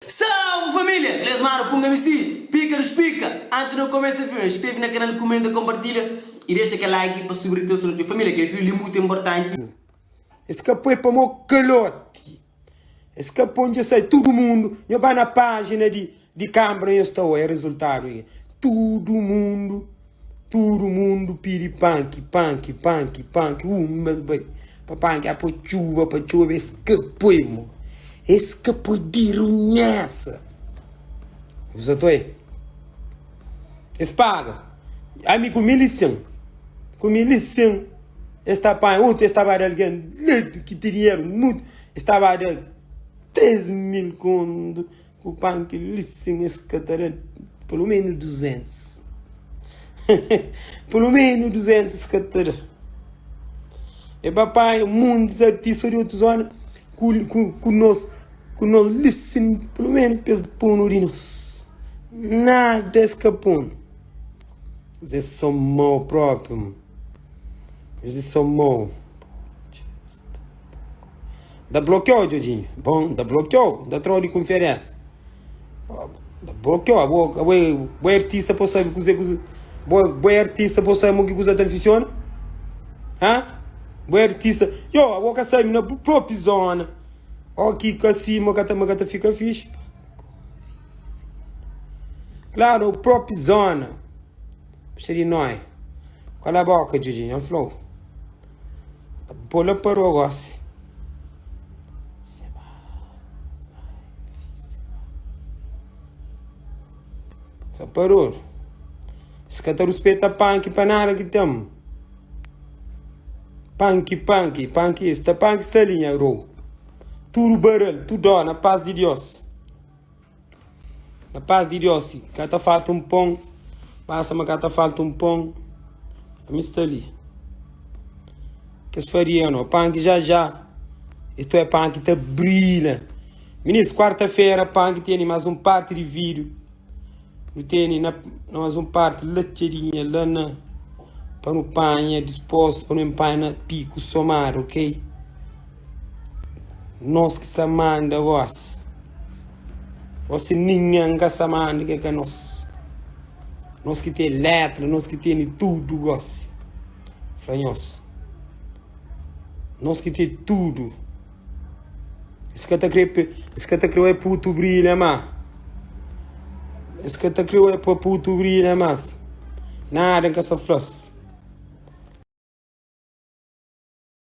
Salve família! Gles mano punga mi si pika nos pika! Antes no começa filme inscreve na canal comenta compartilha e deixa kel like pa subir tes noti família kel filme li muito importante. Es ka poi pa mo kaloti es ka poi nje sai tudu mundu nho ba na pajina di. Di kanbra nhos ta oia rezultadu li? Tudu mundu, tudu mundu pidi panki, panki, panki, panki. Un bes bai pa panki a poi txuba pa txuba, es ka poi mo, es ka poi dirunhesa. Bu sa ta oia? Es paga ami ku mil i sen, ku mil i sen. Es ta panha otu, es ta ba da algen li ki ten dinheru mutu, es ta ba da três mil kontu, Ku pan ki listen es ka ta da pelo menos duzentos pelo menos duzentos es ka ta da e ba panha mundes artista di otu zona ku nos ku nos listen pelo menos pa es punu di nos nada es ka punu es é so mau propriu es é so mau. Da bloqueou, Djodjinho. Bom, da bloqueou. Da trou de conferência. Da bloqueou. Abo, abo, abo é artista, pô sabe cozer, cozer. Bo, bo é artista, pô sabe mo que cozer tá funciona. Hã? Bo é artista. Yo, abo ka sabe na bu própria zona. Ó, que ka assim, mo ka tá, mo ka tá fica fixe. Claro, o próprio zona. Puxa de nós. Cala a boca, Djodjinho. Flow. Pô la parou gósi. Sa parou. Si ka ta ruspeta panki pa nada ki ten. Panki, panki, panki esta, panki sta linha rou. Tudo barel, tudo na paz de Deus. Na pas di Diós si ka ta falta un pon Basta ma ka ta falta un pon Ami sta li Kes faria no pan ki já já E to é pan ki ta brila Minis, kuarta-fera pan ki tene más un parti di vidru Nu tene na más un parti la txadinha la na Pa nu panha dispostu pa nu enpanha na piku somadu, ok? Nos ki sa manda vós. Ó si ninhen ka sa manda ki ka nos. Nos ki ten letra, nos ki tene tudu gósi. Fla nhos. Nos ki ten tudu. Es ka ta kre pe, es ka ta kre wé putu brilha ma. Es ka ta kre wé pa putu brilha mas. Nada ka sa fla-s.